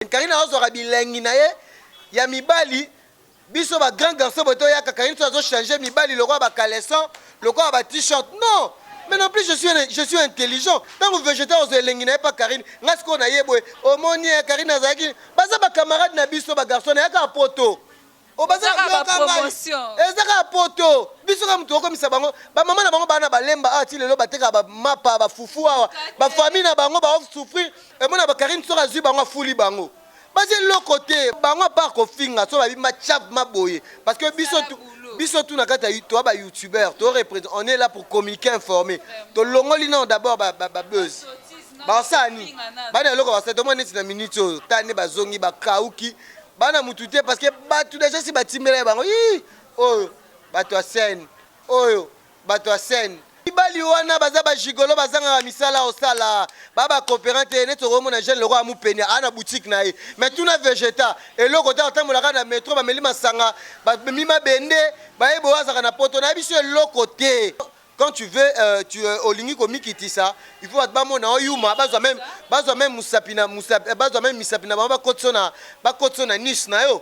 Carine. Carine azwaka bilengi na ye ya mibali. Biso ba grand garçon boye toyaka Carine so azo changer mibali lokola ba caleçon, lokola ba t-shirt. Non! Mais non plus je suis un- je suis intelligent. Tango Vegeta ozwa elengi na ye pa Carine, nga sikoyo na ye boye. Omoni eh Carine azalaki baza ba camarades na biso ba garçon na yaka poto. Obazaka ba promotion. Eza kaka poto. Biso kaka mutu okomisa bango. Ba maman na bango bana balemba awa ti lelo bateka ba mapa ba fufu awa. Ba famille na bango ba souffrir. Emona ba Karine soka zui bango afuli bango. Baza eloko te. Bango apart kofinga so babi ma chav ma boye. Parce que biso tu biso tu na kata to ba youtubeur to represent on est là pour communiquer informer. To longoli non d'abord ba ba, ba buzz. Basani. Bana eloko basani. Tomoni neti na minute oyo. Tani bazongi ba kauki. bana mutu te parce que batu deja si batimbela ye bango ii oyo bato ya scène oyo bato ya scène mibali wana baza bajigolo bazangaka misala osala baba cooperant te neti okomona jeune lokola mupenia aa na boutique na ye mais tuna vegeta eloko te atambolaka na metro bameli masanga bamemi mabende baye boyo azaka na poto na ye biso eloko te Quand tu veux tu olingi komikitisa il faut batu bamona yo yuma bazwa meme bazwa meme musapi na musapi bazwa meme misapi na bango bakotisa yo na bakotisa yo na niche na yo.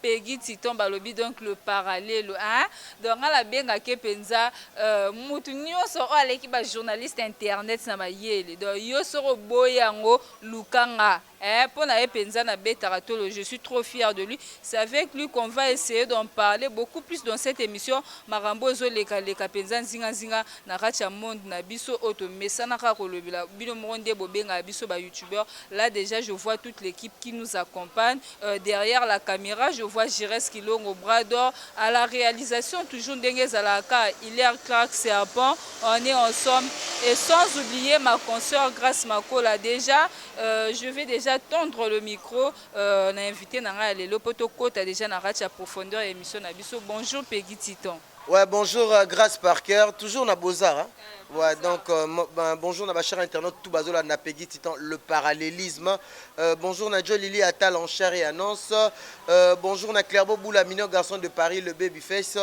Peguy Titon balobi donc le paralelo eeh donc nga na benga ke penza euh mutu nioso oyo aleki ba journaliste internet na mayele donc yo soki oboyi yango luka nga eeh po na ye penza na betaka tolo je suis trop fière de lui c'est avec lui qu'on va essayer d'en parler beaucoup plus dans cette emission makambo oyo ezo leka leka penza nzinga nzinga na kati ya monde na biso oyo to mesana kaka ko lobela bino moko nde bo bengaka biso ba youtubeur là dejà je vois toute l'equipe qui nous accompagne Euh, derrière la camera je vois Gires Kilongo bras d'or à la réalisation toujours ndenge ezalaka Hilaire Clark Serpent on est ensemble et sans oublier ma consoeur Grace Makola déjà euh, je vais déjà tendre le micro euh, na invité na ngai ya lelo mpo tokota déjà na kati ya profondeur ya émission na biso bonjour Peggy Titon Ouais bonjour grace par cœur toujours na beaux arts hein ouais donc bonjour na ba chers internautes tout bazo landa Peggy Titan le parallélisme euh, bonjour na Joe Lily Atal en chair et annonce euh, bonjour na Clairbeau Boula mignon garçon de Paris le baby face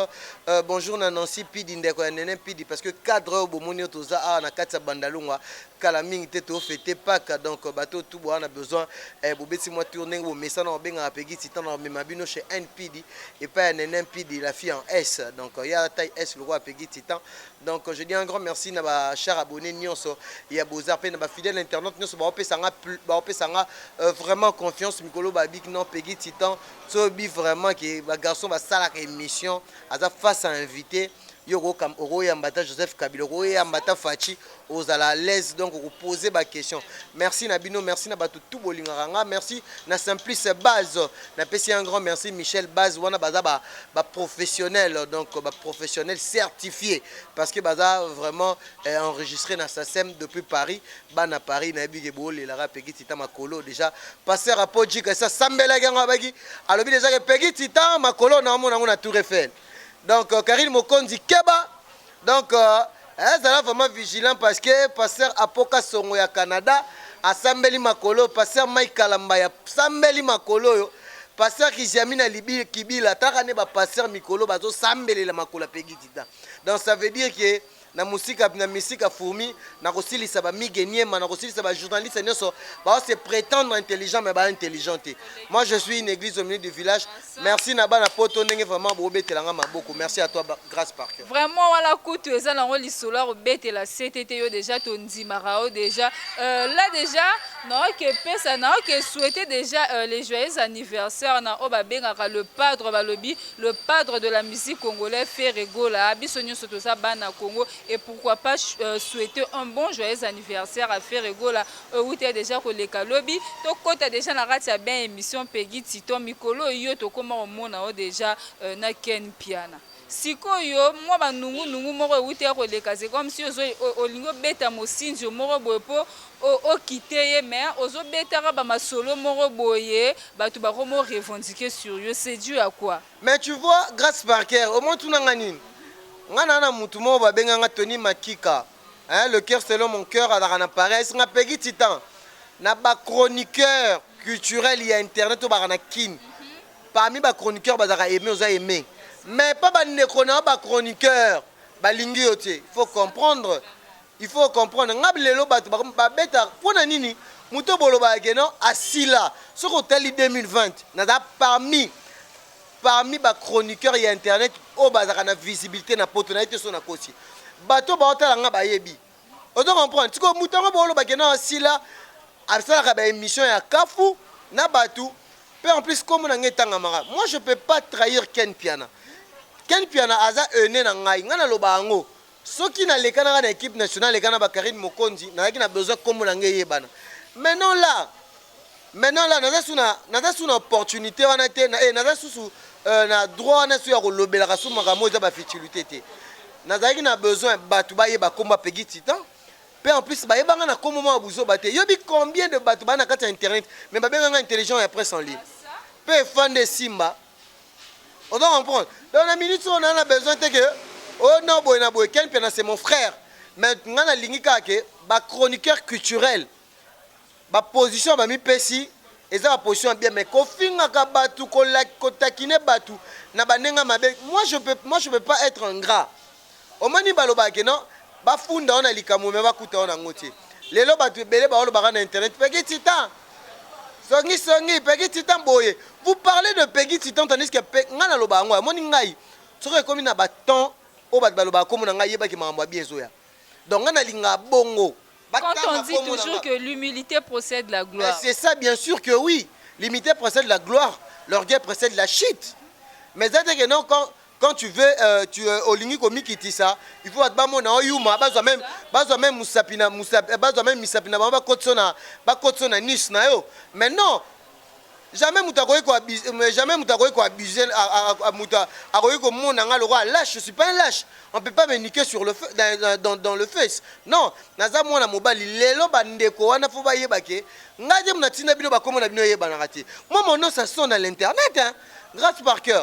euh, bonjour na Nancy Pidi ndeko ya Nene Pidi parce que cadre oyo bomoni oyo toza awa na kati ya Bandalungwa kala mingi te to fete paque donc bato oyo tout boa na besoin eh, bobeti mwa tour ndenge bomesana obengaka pegi titan na omema bino chez npidi epai ya nene npidi la fille en s donc euh, ya taille s lokola pegi titan donc euh, je dis un grand merci na ba char abonné nyonso ya bozar mpe na ba fidèle internaute nyonso baopesa nga baopesa nga euh, vraiment confiance mikolo babiki non pegi titan sobi vraiment ke ba garçon basalaka émission aza face à invité yo okoyamba ata joseph kabila okoyamba ata faci ozala à l'aise donc oko poser ba question merci na bino merci na batu tout bolingaka nga merci na simplice base na pesi un grand merci Michel base wana baza ba, ba professionnel donc ba professionnel certifié parce que baza vraiment eh, enregistré na SACEM depuis Paris bana Paris na yebi ke bolelaka Peggy Tita makolo déjà pasteur Apoji kasa sambelaki yango abaki alobi déjà ke Peggy Tita makolo na omona yango na Tour Eiffel donc euh, Karine Mokonzi keba Donc eh, zala vraiment vigilant parce que pasteur Apo Kasongo ya Canada asambeli makolo pasteur Mike Kalamba ya sambeli makolo oyo pasteur Kijami na libi kibila taka ne ba pasteur mikolo bazo sambelela makolo pegi dida donc ça veut dire que na musika na misika fourmi na kosilisa ba migue niema na kosilisa ba journaliste nyonso ba se prétendre intelligent mais ba intelligent te moi je suis une église au milieu du village Merci na bana poto ndenge vraiment bo betela nga maboko. Merci à toi Grace Parker. Vraiment wala kutu eza nango lisolo ya kobetela CTT yo déjà to ndimaka yo déjà. Euh, là déjà na oke pesa na oke souhaiter déjà euh, les joyeux anniversaires na oba bengaka le padre balobi le padre de la musique congolaise Ferre Gola. Biso nyoso toza bana Congo et pourquoi pas euh, souhaiter un bon joyeux anniversaire à Ferre Gola. Ewuta dejà koleka lobi to kota dejà na kati ya bain emission Peguy Titon mikolo oyo yo tokoma komona yo dejà na Ken Mpiana sikoyo mua ba nungu nungu moko ewuta koleka c'est comme si ozo olingi obeta Mosinzio moko boye po o o quitter ye mais ozo betaka ba masolo moko boye batu bakoma o revendiquer sur yo c'est du à quoi? Mais tu vois Grace Parker omotuna nga nini? Nga naza na mutu moko babenga nga Tony Makika hein le coeur selon mon coeur azalaka na paresse nga Peggy Titan na ba chroniqueur culturel ya internet oyo baka na Kin parmi ba chroniqueur bazalaka aimé oza aimé mais pa ba ndeko na yo ba chroniqueur balingi yo te il faut comprendre il faut comprendre nga lelo bato babeta mpo na nini moto bolobaka ke non asila soki otali 2020 naza parmi Parmi ba chroniqueurs ya internet oyo bazalaka na visibilite na poto nayebi te soki nakosi bato oyo baotala nga bayebi ozo comprendre sikoyo moto yango booloba ke na sila asalaka ba emission ya kafu na bato pe en plus kombo na nga etangamaka moi je peux pas trahir ken mpiana ken mpiana aza aine na ngai ngai naloba yango Soki na leka naka na equipe nationale leka na ba Carine Mokonzi nazalaki na besoin kombo na nga eyebana mais non là mais non là naza suna naza suna opportunité wana te na eh naza susu euh, na droit wana su ya kolobelaka su makambo eza ba futilité te nazalaki na besoin bato bayeba kombo ya Peggy Titan pe en plus bayebanga na kombo mwa buzoba te yobi combien de bato baa na kati ya internet mais babenganga intelligent ya presse en ligne pe efande esimba Ozo comprendre? Donc na minute oyo na na besoin te que oh non boye na boye Ken Mpiana c'est mon frère. Mais nga na lingi kaka que ba chroniqueurs culturels ba position ba mipesi eza ba position bien mais kofingaka batu ko taquiner batu na ba ndenge mabe moi je peux moi je peux pas être ingrat. Omoni balobaka que non ba funda yo na likambo mais bakuta yo nango te. Lelo batu ebele bao lobaka na internet Peggy Titan songi songi Peggy Titan boye. Vous parlez de Peggy Titan tandis que pe ngai naloba yango omoni ngai soki ekomi na ba temps oyo batu balobaka kombo na ngai yeba que makambo ya bien ezoya. Donc ngai nalingaka bongo. Quand on dit toujours que l'humilite precede la gloire. Mais c'est ça bien sur que oui. L'humilite precede la gloire, l'orgueil precede la chute. Mais eza te que non quand Quand tu veux tu olingi komikitisa il faut batu bamona yo yuma bazwa meme bazwa meme musapi na musapi bazwa meme misapi na bango bakotiso na bakotiso na niche na yo mais non jamais mutu akoki ko abuse jamais mutu akoki ko abuse mutu akoki komona nga lokola lâche je suis pas un lâche on peut pas me niquer sur le feu dans, dans, dans le face non naza mwana mobali lelo bandeko wana faut bayeba ke ngai te munatinda bino bakombo na bino eyebanaka te moi mon nom ça sonne à l'internet hein Grace Parker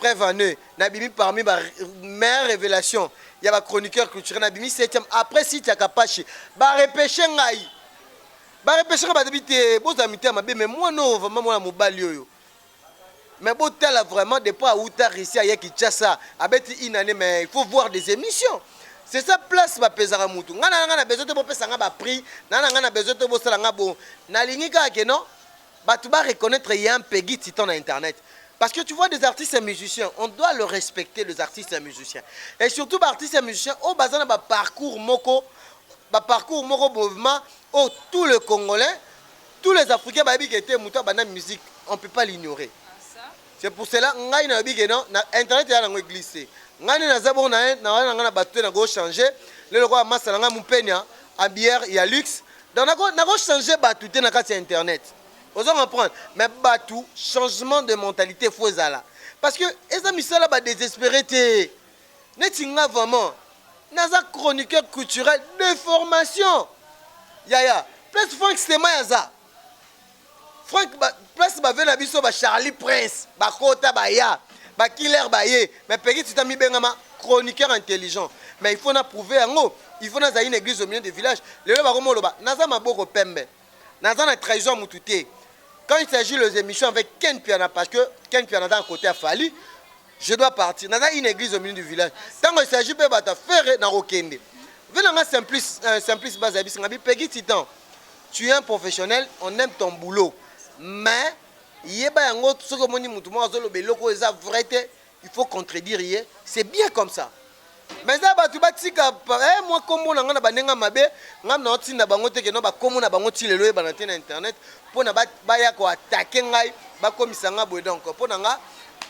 preuve en est na bimi parmi ba meilleure révélation ya ba chroniqueur culturel na bimi 7e après site ya kapashi ba repêche ngai ba repêche ngai batabi te bozala mitema mabe mais mwana oyo vraiment mwana mobali oyo mais botala vraiment depuis awuta russie aye kinshasa abeti une année mais il faut voir des émissions c'est ça place bapesaka mutu ngai na ngai na besoin te bopesa ngai ba prix na na ngai na besoin te bosala ngai bo nalingi kaka ke non Batu ba reconnaitre ye hein Peguy titan na internet parce que tu vois des artistes et musiciens on doit le respecter les artistes et musiciens et surtout ba artistes et musiciens oyo baza na ba parcours moko ba parcours moko bovema oyo tout le congolais tous les africains bayebi ke te mutu abanda musique on peut pas l'ignorer c'est pour cela ngai nayebi ke non na internet eza nango eglise te ngai nde naza bongo na na wana na ngai na batu te nakoki changer lelo kwa masa na ngai mupenia en bière ya luxe Donc nako nako changer batu te na kati ya internet ozo comprendre mais batu changement de mentalite faut ezala parce que eza misala ba desesperer te neti nga vraiment naza chroniqueur culturel de formation yaya place Franck Stemay aza Frank ba, place bave na biso ba Charlie Prince bakota baya ba killer baye mais Peggy Tita mibengama chroniqueur intelligent mais il faut na prouver yango il faut nazali na église au milieu de village lelo bakoma oloba naza maboko pembe naza na trahison ya mutu te quand il s'agit les émissions avec Ken Piana parce que Ken Piana aza na côté ya Fally je dois partir naza une église au milieu du village tango il s'agit pe bata ferre nakokende vela nga simplice euh, simplice baza yebisi nga bipegi titan tu es un professionnel on aime ton boulot mais yeba yango soki omoni motu moko azoloba eloko eza vrai te il faut contredire ye c'est bien comme ça Mais eza batu batika eh, mwa kombo na nga na bandenga mabe nga na otinda bango te keno bakombo na bango ti lelo oyebana te na internet mpo na baya koatake ngai bakomisa nga boye donc mpo na nga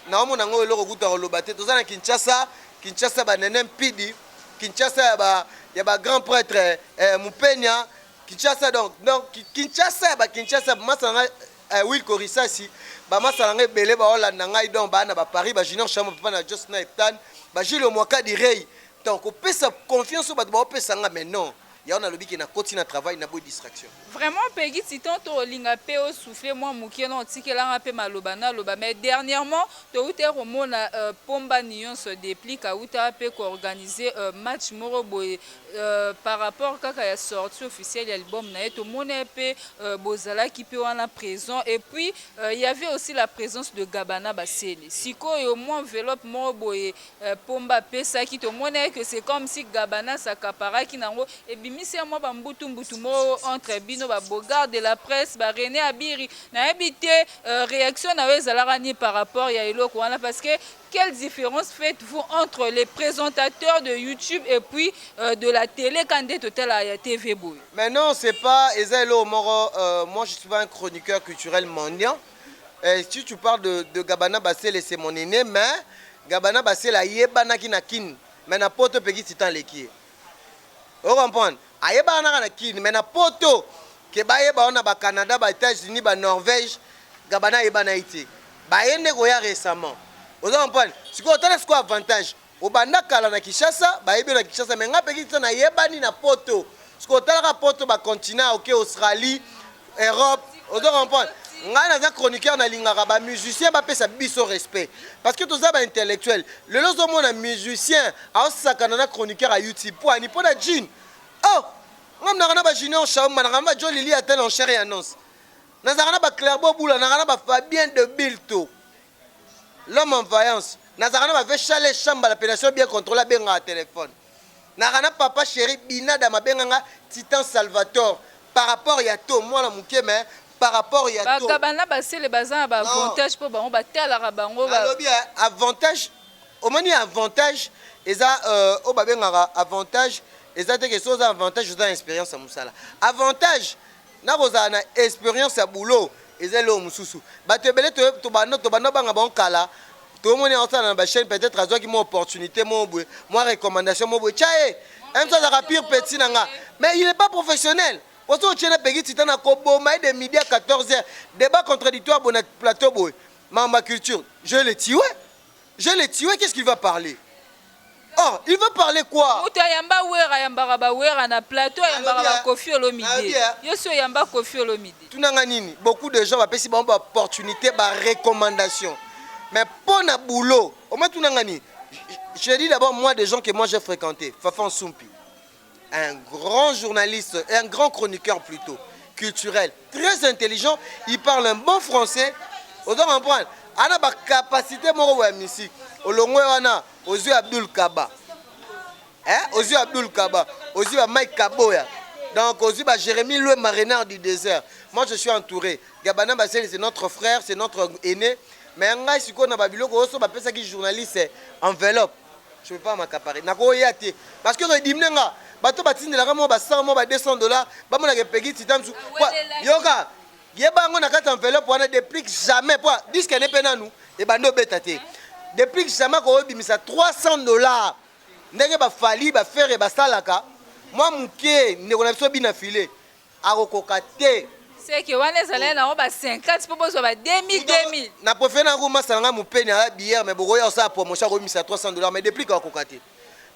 naomona yango eloko kutu ya koloba te toza na kinshasa kinshasa banene mpidi kinshasa ya ba, ya ba grand prêtre eh, mupenia kinshasa donc donc kinshasa ya ba kinshasa masa na ngai Eh Wilco Risasi, ba masta na nga ebele ba olanda ngai donc ba na ba Paris, ba Junior Shamo papa na Jos na Eptan, ba Jules Omwaka di Rey. Donc ko pesa confiance oyo bato bao pesa nga mais non. Yango na lobi ke na koti na travail na boyi distraction. Vraiment Peguy Titon to linga pe o souffler mwa mukie non otikela nga pe maloba na loba mais dernièrement to wuta ko mona euh, pomba niyonso deplic awuta pe ko organiser euh, match moko boye par rapport kaka ya sortie officielle ya album na ye tomona ye pe bozalaki pe wana present et puis il y avait aussi la presence de Gabana Basele sikoyo mwa enveloppe moko boye pomba apesaki tomona ye que c'est comme si Gabana s'accaparaki nango ebimisi ya mwa ba mbutu mbutu moko entre bino ba Bogard de la presse ba Rene Abiri nayebi te reaction na yo ezalaka ni par rapport ya eloko wana parce que Quelle difference faites vous entre les presentateurs de YouTube et puis euh, de la tele quand nde totala ya TV boye? Mais non, c'est pas eza eloko moko euh, moi je suis pas un chroniqueur culturel mendiant. Euh, si tu parles de, de Gabana Basele c'est mon aîné mais Gabana Basele ayebanaki na Kin mais na poto peki titan leki ye. o comprendre ayebaka naka na kin mais na poto ke bayeba yo na ba canada ba etats unis ba norvege gabana ayeba na ye te baye nde koya recemment ozo comprendre sikoyo tala sikoyo avantage obanda kala na kinshasa bayebi yo na kinshasa mais nga pekisa nayebani na poto sikoyo talaka poto ba continent oke okay, australie Europe ozo comprendre ngai naza chroniqueur nalingaka ba musicien bapesa biso respect parce que toza ba intellectuel lelo ozomona musicien aosakana na chroniqueur ya youtube po ani mpo na june oh ngai mnaka na ba junior shaumba naka na ba jo lili ata na enchere ya annonce nazalaka na ba clerbo bula naka na ba fabien de bilto l'homme en vaillance nazalaka na ba vechale chamba la penation bien controle abengaka telefone Naka na papa cheri binada mabenga nga titan salvator par rapport ya to mwana muke mais par rapport ya to Ba gabana ba sele baza na ba Non. avantage po bango ba talaka bango ba nalobi eh, avantage omoni avantage eza euh, oyo babengaka avantage eza te ke soki oza avantage oza na experience ya musala avantage Na kozala na experience ya boulot eza eloko mususu. Batu ebele to tobanda tobanda banga bango kala. To moni azo sala na ba chaine peut-etre azuaki mo opportunite mo bwe, mo recommandation mo bwe. Ca ye un so azaka pire petit na nga mais il est pas professionnel. Ozo otie na Peggy Tita na ko boma ye de midi à 14 heures. Debat contradictoire boye na plateau boye. Makambo ya culture je le tue. Je le tue, qu'est-ce qu'il va parler Oh, il va parler quoi Moto ayamba Wera, ayambaka ba Wera na plateau, ayambaka ba Kofi Olomide. Yo si oyamba Kofi Olomide. Tunanga nini Beaucoup de gens bapesi bango ba opportunité, ba recommandation. Mais pour na boulot, oma tunanga nini Je dis d'abord moi des gens que moi j'ai fréquenté, Fafan Sumpi. un grand journaliste, un grand chroniqueur plutôt, culturel, très intelligent, il parle un bon français, ozo comprendre ana ba capacité moko ya musique olongwe wana ozwi Abdul Kaba hein ozwi Abdul Kaba ozwi ba Mike Kaboya donc ozwi ba Jérémy Loué Marénard du désert moi je suis entouré Gabana Baseli c'est notre frère c'est notre aîné mais ngai sikoyo na ba biloko oso bapesaki journaliste enveloppe Je peux pas m'accaparer. Nakoya te. Parce que edimne nga. Bato batindelaka mwa ba 100 mwa ba 200 dollars, bamona ke Peggy Titan su. Kwa yoka. Yeba yango na kati enveloppe wana deplique jamais po disque ne pe nanu ebandi obeta te. Deplique jamais ko bimisa 300 dollars. Ndenge ba Fally, ba Ferre basalaka mwa muke ndeko na biso bina filet. Akokoka te. Seke wana ezalai na ngo ba 50 po bozwa ba 2000 2000. Na prefere na ko masala nga mupeni aya billard mais bokoya kosala promotion ako bimisa 300 dollars mais deplick akokoka te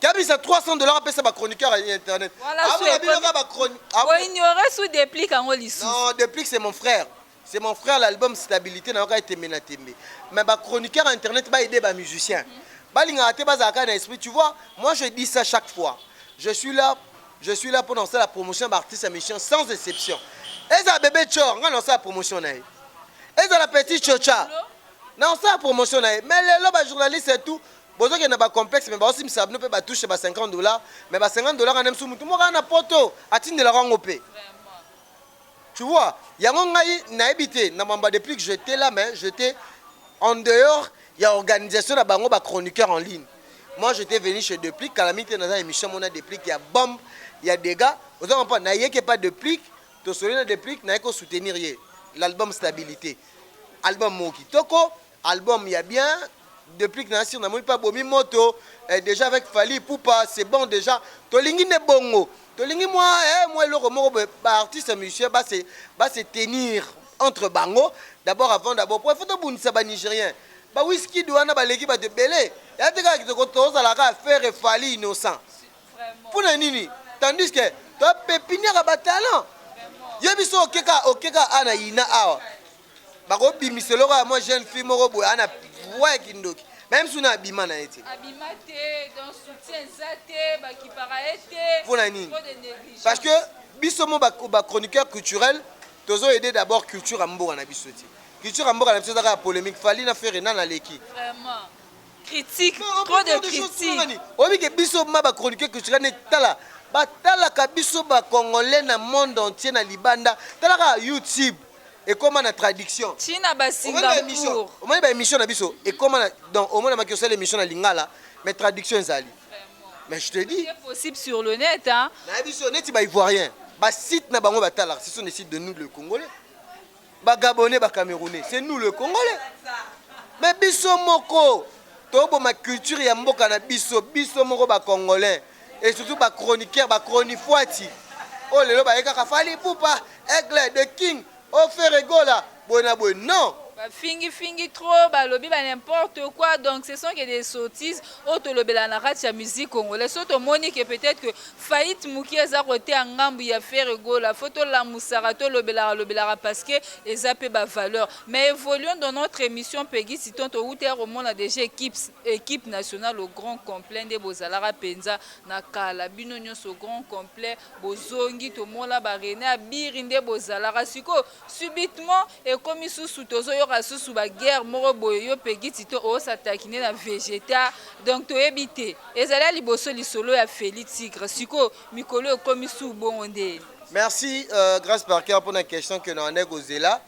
ke abimisa 300 dollars apesa ba chroniqueur ya internet. Wana su ekomi ko ignorer su deplick ango lisusu. Non deplick c'est mon frère. C'est mon frère l'album stabilité na yoka tembe na tembe. Mais ba chroniqueurs internet ba aider ba musiciens. Ba linga te ba zaka na esprit. Tu vois, moi je dis ça chaque fois. Je suis là, je suis là pour lancer la promotion ba artistes musiciens sans exception. Eza bébé Chor, nga lancer la promotion na ye. Eza la petite Chocha. Na lancer la promotion na ye. Mais lelo ba journalistes et tout bozokende na bacomplexe me baosimisa bino mpe batushe ba 50 dollar me ba 50 dollar wana msu motu moko ana poto atindelaka yango mpe tu vois yango ngai nayebi te na mamba depuis que j'etais là mais j'etais en dehors ya organisation na bango ba chroniqueurs en ligne moi j'étais venu chez Deplick kala mingi te naza émission mona Deplick ya bombe ya dégâts oza comprendre nayeke pa Deplick tosoli na Deplick naye ko soutenir ye l'album stabilité album moko kitoko Album ya bien deplick na assire namoni pe abomi moto eh, dejà avec Fally Ipupa c'est bon dejà tolingi nde bongo tolingi mwa eh, mwa eloko moko boye ba artiste musicien ba se ba se tenir entre bango d'abord avant d'abord po il faut tobundisa ba nigérien ba whisky wana baleki bato ebele ya te kaka kitoko tozala kaka faire Fally innocent mpo na nini tandis que topepiniaka ba talent ye biso okeka okeka a na yina awa bako bimisa eloko ya mwa jeune fille moko boye ana voix ya kindoki meme suna abima na ye te abima te donc soutien eza te bakipaka ye te mpo na nini parce que biso mo bachroniqueur culturel tozo aide d'abord culture ya mboka na biso te culture ya mboka na biso eza kaka polémique fali na fere nani aleki vraiment critique trop de critique oyebi ke biso ma bachroniqueur culturel ne tala batalaka biso bacongolais na monde entier na libanda talaka youtube ekoma na traduction china ba singapour omoni ba émission na biso ekoma na donc omona maki osala émission na lingala mais traduction ezali mais je te dis c'est possible sur le net hein na biso neti ba ivoirien ba site na bango batalaka ce sont des sites de nous le congolais ba gabonais ba camerounais c'est nous le congolais mais biso moko toboma culture ya mboka na biso biso moko ba congolais et surtout ba chroniqueur ba chronifuati oyo oh, lelo baye kaka fali pupa aigle de king ofere oh, gola boye na boye non bafingi fingi trop balobi ba n'importe quoi donc ce sont que des sottises oyo tolobela na kati ya musique congolais so tomoni ke peut-être que faillite moke eza koteya ngambu ya fere gola fo tolamusaka tolobelaka lobelaka parce que eza mpe bavaleur mais évoluons dans notre émission pegi siton towutela komona déjà équipes Equipe nationale au grand complet nde bozalaka penza na kala bino nionso au grand complet bozongi tomona ba Rene Abiri nde bozalaka sikoyo subitement ekomi susu tozo yoka susu ba guerre moko boye yo Peguy Tito o s'attaquiner na Vegeta donc toyebi te ezali ya liboso lisolo ya Felly Tigre sikoyo mikolo ekomi suu bongo nde. Merci Grace Parker pona question que na wandaki kozela.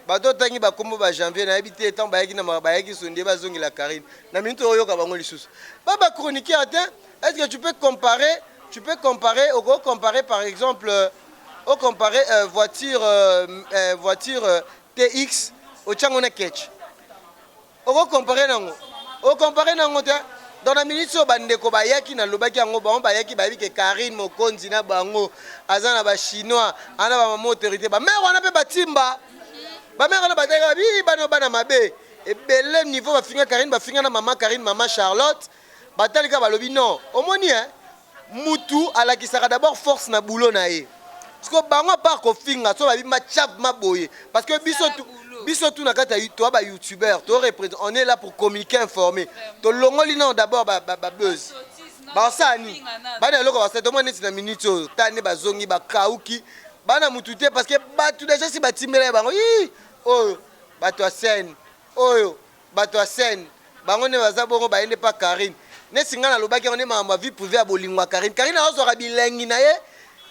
Bato otangi ba kombo ba janvier na yebi te tango bayaki na bayaki sondie ba zongela Carine na minute oyo yoka bango lisusu ba ba chroniqueur te est ce que tu peux comparer tu peux comparer au gros comparer par exemple euh, au comparer euh, voiture euh, euh, voiture euh, TX au Tchangona Ketch Oko comparer nango? O comparer nango te. Donc na minutes oyo ba ndeko ba yaki na lobaki yango bango ba yaki ba yebi ke Carine Mokonzi na bango aza na ba chinois aza na ba maman autorite ba mère wana pe ba timba ba mère wana ba teka bi bana bana mabe ebele niveau ba finga Carine ba finga na maman Carine maman Charlotte Batali kaka balobi non omoni hein mutu alakisaka d'abord force na boulot na ye sikoyo bango apart kofinga so babi machav ma boye parce que biso tu, biso tu na kati ya toa ba youtubeur to represent on est là pour communiquer informer tolongoli nao d'abord ba, ba, ba buzz basala nini bana eloko basala tomoni neti na minute oyo ta nde bazongi bakauki bana mutu te parce que batu deja si batimbela ye bango ii oyo bato ya scène oyo Batu ya scène bango nde baza bongo baye nde pa Carine nesi nga nalobaki yango nde makambo ya vie privee ya bolingo ya Carine Carine azozwaka bilengi naye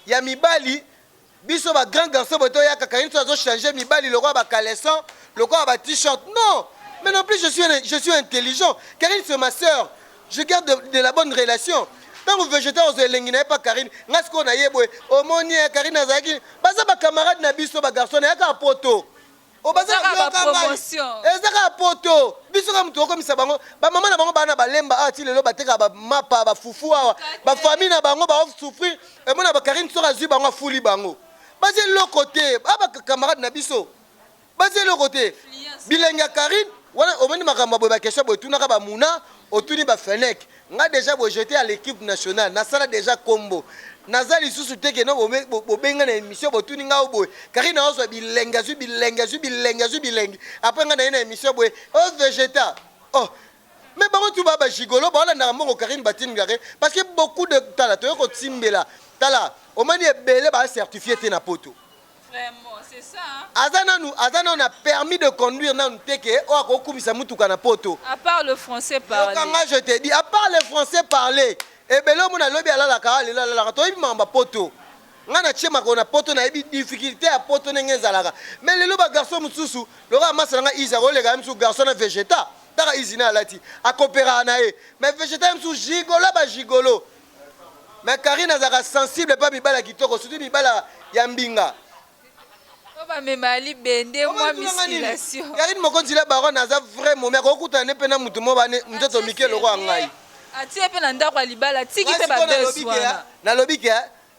ya mibali biso ba grand garçon boye toyaka Carine soki azo changer mibali lokola ba caleçon lokola ba t-shirt non mais non plus je suis je suis intelligent Carine c'est ma sœur je garde de, de la bonne relation ntango vegeta ozwa elengi na ye mpa karine ngai sikoyo na ye boye omoni ye karine azalaki baza bacamarade na biso bagarçon na ye kaka poto Oh, baza Ezaka yoka ba ngai. promotion. eza kaka poto biso kaka moto okomisa bango bamama na bango baa na balemba awa ti lelo batekaka bamapa bafufu awa bafamille na bango baosouffrir emona bakarine soki azwi bango afuli bango baza eloko te a bakamarade na biso baza eloko te bilengi ya karine wana omoni makambo ya boye bakestion boye tunaka bamuna otuni bafenek Nga dejà bo jete à l'equipe nationale na sala dejà kombo naza lisusu te que non bo bengi nga na emission bo tuni nga oboye Carine azo zwa bilengi azwi bilengi azwi bilengi azwi bilengi après nga naye na emission boye o vegeta oh mais bango tout ba ba gigolo ba landaka mbongo Carine ba tindi nga ke parce que beaucoup de tala toye ko timbela tala omani ebele ba certifier te na poto aza nanu aza nanu na permis de conduire nanu te ke oyo akoki kumisa mutuka na poto à part le français parler yokanga je te dis à part le français parler ebele omona lobi alalaka awa lelo alalaka toyebi makambo ya poto ngai natie makolo na poto nayebi difficulté ya poto ndenge ezalaka me lelo bagarçon mosusu lokola masa na ngai izi akoleka ye mosusu garçon na vegeta taka izi na alati akoperaka na ye me vegeta ye mosusu gigolo bagigolo mais Karine azalaka sensible pa mibala kitoko surtout mibala ya mbinga bamema ya libende mwa misilation karine mokonzi la baronne aza vrai momi akokutana ne mpe na motu mo bane nzoto mike lokola ngai atie mpe na ndako ya libala tiki mpe babes wana nalobi ke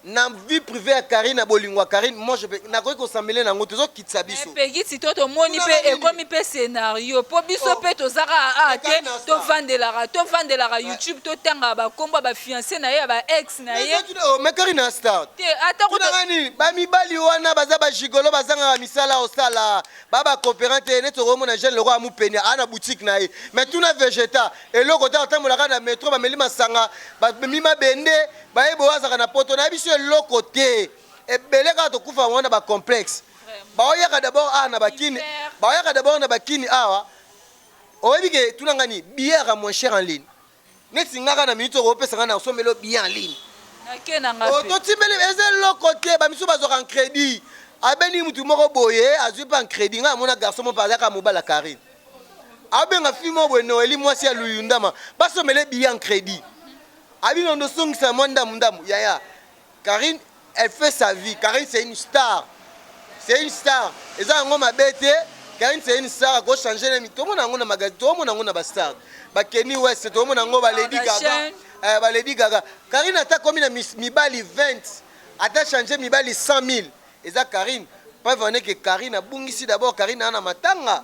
Na vie privee ya carine na bolingo ya carine moi je peux nakoki ko s'emmeler na yango te ezo kitisa Mais biso. Peggy sikoyo tomoni Kuna pe nani? ekomi pe scenario po biso Oh. pe toza kaka awa Mais te kaka na star. tovandelaka tovandelaka YouTube totangaka ba kombo ya ba fiancé na ye ya ba ex na ye Eza tuna- oh, mais carine na star. te ata kutu tunaka nini bamibali wana baza bajigolo bazangaka misala osala baba cooperant te neti okomona jeune lokola mupeni aa na boutique na ye mais tuna vegeta eloko te atambolaka na metro bameli masanga bamemi mabende Baye boazaka na poto nayebi biso eloko te ebele kaka tokufa yango wana ba complexe baoyaka d'abord awa na bakini baoyaka d'abord na bakini awa oyebi ke tuna nga nini billet yaka moins cher en ligne neti ngaka na minute oko opesa nga na osombelo billet en ligne nake na nga pe totimbeli eza eloko te ba misusu bazwaka en crédit abendi mutu moko boye azwi mpe en crédit ngai amona garçon moko azalaka mobala karine abenga fi moko boye noeli mwasi ya luyundama basombele billet en crédit Abi nondo zongisa mwa ndamu ndamu yaya Carine elle fait sa vie Carine c'est une star c'est une star eza yango mabe te Carine c'est une star ako changer na mi tomona yango na magazine tomona yango na ba star ba Kenny West tomona yango ba Lady Gaga eh, ba Lady Gaga Carine ata komi na mibali 20 ata changer mibali 100 000 eza Carine preuve en est que Carine abungisi d'abord Carine ana matanga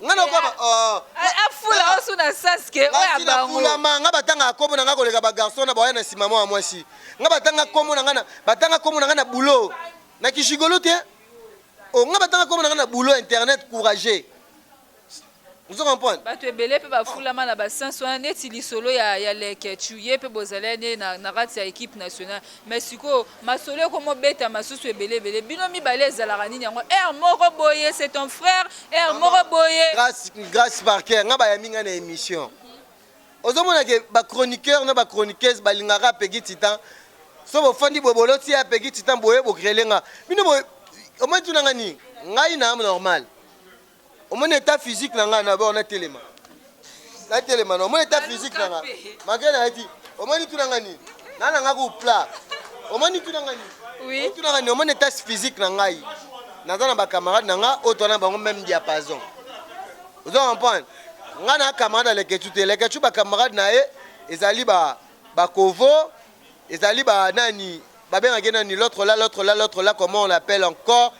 nga nakoba oh. afula osu na saske oyo ya bango nafulama nga batangaka kombo na nga koleka bagarçon na bawaya na nsima mwa mwasi nga batanga kombo na nga batanga kombo na nga na boulot na kishigolo te o oh, nga batanga kombo na nga na boulot internet courageux ozo comprendre bato ebele mpe bafulama na basense wana neti lisolo ya, ya leke chuye mpe bozalani na, na kati ya equipe nationale Mais sikoyo masolo ekomo beta masusu ebele ebele bino mibale ezalaka nini yango heure moko boye c'est ton frère heure moko boye Grace, Grace Parker, nga bayambi nga na emission. Ozomona ke ba chroniqueurs na ba chroniqueuses balingaka Peggy Titan. So bofandi boye boloti ya Peggy Titan boye bo grele nga. Bino boye omoni tuna nga nini? Ngai na am normal. omoni etat physique na ngai na bord natelema natelema na omoni etat physique na ngai mage na yaki omoni tuna ngai nini na na ngai kupla omoni tuna ngai nini Oui. tuna ngai nini omoni etat physique na ngai naza na bacamarade na ngai oyo toza na bango meme diapason ozo comprendre ngai na camarade ya lekechu te lekechu bacamarade na ye ezali ba bakovo ezali ba nani babengaki nani l'autre là l'autre là l'autre là comment on l'appelle encore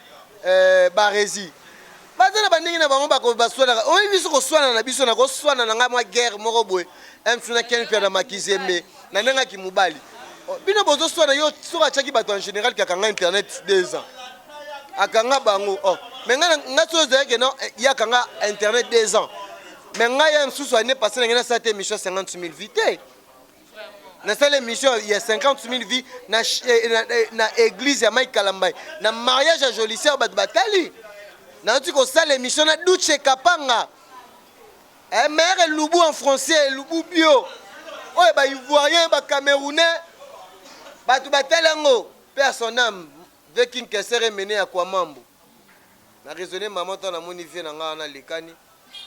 euh, barezi baza na bandenge na bango bakobaswanaka oyebi biso koswana na biso nakoswana na ngai mwa guerre moko boye msu na ken mpia na makizembe na ndenge ya kimobali oh, bino bozoswana yo soki atyaki bato en général kakanga internet deux ans akanga bango oh. me ngai ngai soki ozalaki no eh, ye akanga internet deux ans me ngai ya mosusu ane pase na ngai nasala te émission 50 000 vie te nasali émission ya 50 000 vie na, eh, na, eh, na église ya mike kalambai na mariage ya jolisier bato batali nauti kosala émission na duce kapanga eh, mare elubu en français elubu bio oyo baivoirien bacamerounais bato batali yango mpe ya son ame vekinkesere mene ya kwamambo Na raisonne maman tango namoni vie na nga wana lekani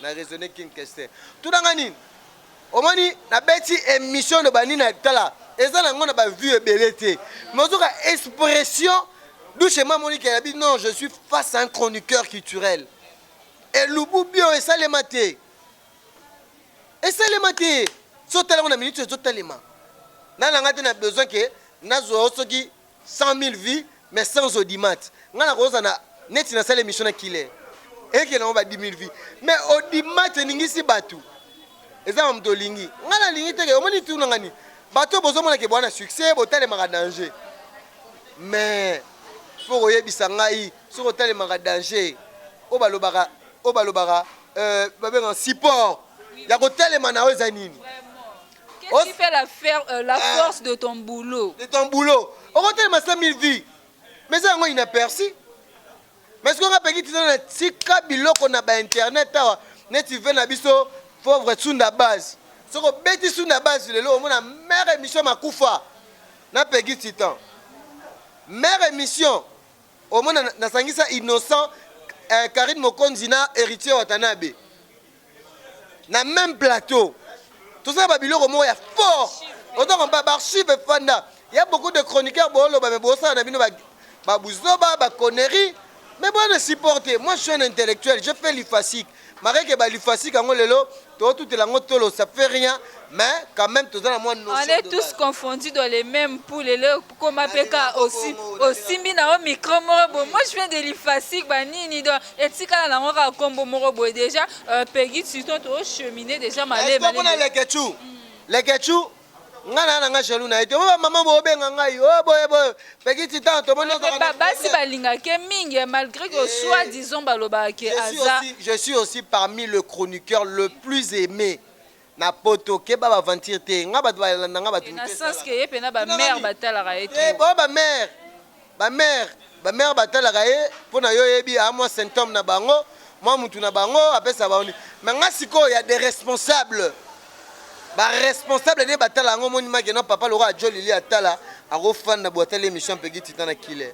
na raisonne king kester tuna nga nini omoni nabeti emission loba nini na tala eza nango na ba vue ebele te mais ozoka expression dushe ma moni ke yabi non je suis face à un chroniqueur culturel elubu bio esalema te esalema te so otalango na minute ezotalema nalanga te na besoin ke nazwa yo soki 100 mille vues mais sans audimat nga na koza na neti na sala emission na killer eke na ba 10000 vues mais audimat eningisi batu eza ba moto olingi nga na lingi teke omoni tuna nga ni bato bozo mona ke bwana succès botalemaka danger mais faut koyebisa ngai soki otalemaka danger oyo balobaka oyo balobaka euh, babenga support ya kotalema na yo eza nini Qu'est-ce qui fait la, fer, euh, la ah. force de ton boulot De ton boulot. On va tellement 5000 vies. Mais ça, on a inaperçu. Mais ce qu'on a payé, c'est tika biloko na ba internet awa. Ne tu veux na biso pauvre tsunda base. Ce qu'on bêti tsunda base le lo, on a mère émission makufa. Na payé titan. Mère émission. Au moins na sangisa innocent euh, Karine Mokonzi na héritier Watanabe. na meme plateau tosala ba biloko moko ya fort ozo kompa barchive efanda ya beaucoup de chroniqueur booloba me bosala na bino babuzoba baconnerie me boye na supporte moi je suis un intellectuel je fais lifasique makeke balifasique yango lelo tootutela yango tolo ça fait rien mais quand même toza na mwa on est tous confondus dans les mêmes poules eloko koma pe ka osi osimbi na yo micro moko boye moi je viens de l'IFASIC ba nini donc etikala na yango kaka kombo moko boye déjà euh, Peggy Tuton to cheminer déjà malema Est-ce que kuna leketchu leketchu nga na na nga jaloux na ye te oyo mama bobenga ngai o oh, boye boye peki titan tomoni basi balingaka ye mingi eh, malgré que eh, soit disant balobaka ke aza je suis aussi parmi le chroniqueur le plus aimé Na poto keba ba aventure te nga batu ba landa nga batu mutu esalaka. Na sens que ye pena ba mère ba talaka ye trop. Bon ba mère ba mère ba mère ba talaka ye pona yo oyebi a mwa symptome na bango mwa mutu na bango apesa bango nini mais nga sikoyo ya de responsable ba responsable nde ba tala yango omoni make non papa lokola djo lili atala ako fanda boye atali emission ya pegi titan na killer.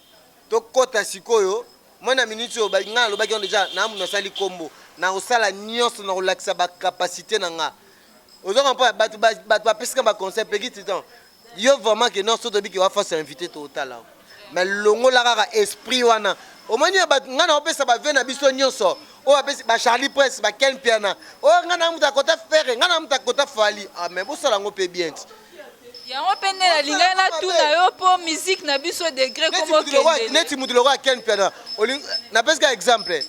Tokota sikoyo mwa na minutes oyo ngai nalobaki yango deja na mutu nasali kombo nakosala nyonso na kolakisa ba capacité na nga ozo comprendre bato bato bapesi nga ba conseil peki titan yo vraiment ke non so toyebi ke wa face invité totala yo mais longola kaka esprit wana omoni ya bato ngai naopesa bave na biso nyonso oyo apesi ba charlie prince ba ken piana oyo ngai na mutu akota fere ngai na mutu akota fali ah mais bosala yango mpe bien ti yango mpe nde nalingaki natuna yo mpo miziki na biso degre komokendneti motu lokola ken piana napesi ka exemple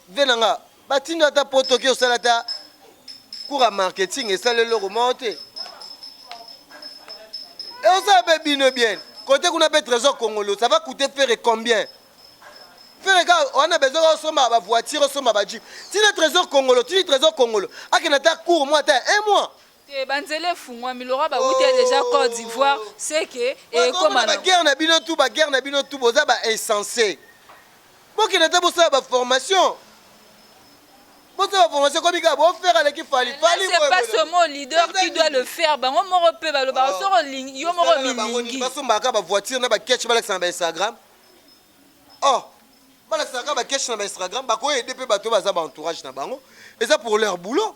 vie na nga batindo ata po toki osala ata cours ya marketing esala eloko moko te e osala mpe bino bien kote kuna mpe trésor congolo ça va coûter fere combien fere ka wana bezo ka osomba bavoiture osomba bajipe tina trésor congolo tini trésor congolo akenda ata cours mwa ata un mois Te ba nzela efungwami Laura ba wuti dejà cote d'ivoire ce que ekoma na. Ba guerre na bino tout ba guerre na bino tout boza ba insense bokende ata bosala ba formation bosala ba formation ekomi kaka bo faire aleki fali fali c'est pas seulement leader qui doit le faire bango moko pe balobaka oh. soko lingi yo moko milingi basombaka kaka ba voiture na ba catch balakisa na ba instagram oh balakisa kaka ba catch na ba instagram bakoyede pe bato baza ba entourage na bango eza pour leur boulot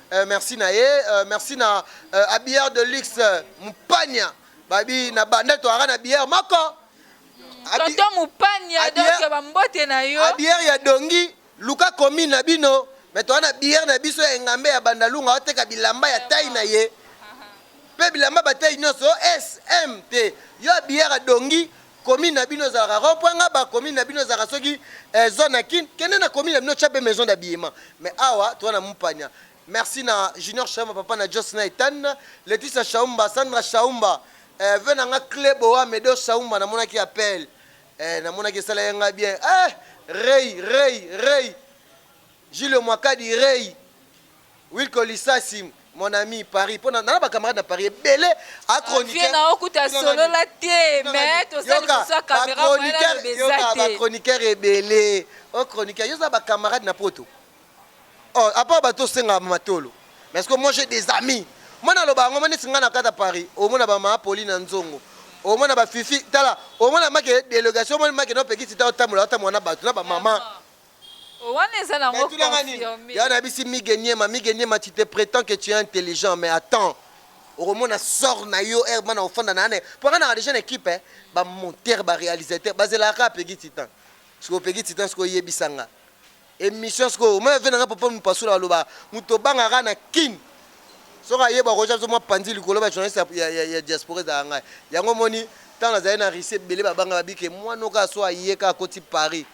euh, merci na ye euh, merci na euh, abillard de luxe euh, mupania babi na banda toara na billard moko Abi- tonton mupania Abia- donc bambote na yo abillard ya dongi luka commune na bino me toa na billard na biso ya engambe ya bandalunga oteka bilamba ya tai na ye mpe bilamba batai nyonso sm te yo abillard ya dongi Commune na bino ezalaka rond point ngaba, commune na bino ezalaka soki eh, zone ya kin, kende na commune na bino tia pe maison d'habillement. Mais awa toza na mupania. Merci na Junior Shaumba, papa na Jos na Ethan, Leticia Shaumba, Sandra Shaumba, eh, ve na nga Cle Boa, Medo Shaumba, namonaki appel. Eh, namonaki esala ye nga bien. Eh, Rey, Rey, Rey. Julio Mwakadi, Rey. Wilco lisasi mon ami Paris pona na ba camarades na Paris ebele a chroniqueur. Vieux na okuta solo la te mais to sali ko sa camera moyen na beza te. Yoka ba chroniqueur ebele o oh, chroniqueur yo za ba camarades na poto. Oh à part ba to senga matolo. Mais est-ce que moi j'ai des amis? Moi na loba ngo mane singa na kata Paris. O mona ba ma poli na nzongo. O mona ba fifi tala o mona make délégation mona make no pekisi ta otambola otambola na bato na ba maman. Oh, wana eza na Mais ngo tuna nga nini? confirme. Ya nabisi Migue Niema, Migue Niema tu te pretends que tu es intelligent mais attends okomona sort na yo heure bana ofanda na ane po nga naka deja na equipe eh, ba monteur ba realisateur bazelaka kaka Peggy Titan sikoyo Peggy Titan sikoyo yebisa nga emission sikoyo omona vie na nga papa mupasula baloba moto obanga kaka na kin soki ayeba akoja biso mwa panzi likolo ba journaliste ya, ya, ya, ya diaspora ezalaka ngai yango omoni ntango nazali na russie ebele babanga babike mwana oka so aye kaka akoti paris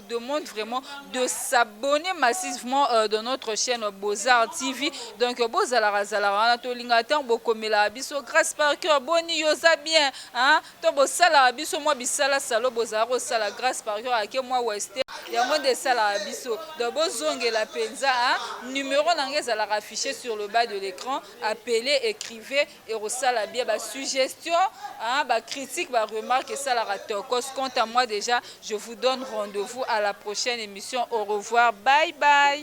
vous demande vraiment de s'abonner massivement euh, dans notre chaîne Bozar TV. Donc euh, bozala razala wana to linga tant bokomela biso grâce par cœur boni yoza bien hein to bosala biso moi bisala salo bozala ko sala grâce par cœur ake moi western yango nde esalaka biso donc bozongela mpenza numéro na ngai ezalaka affiché sur le bas de l'écran appelez écrivez ekosala bien ba suggestion hein, ba critique ba remarque esalaka tokos quant à moi dejà je vous donne rendez-vous à la prochaine émission au revoir bye bye.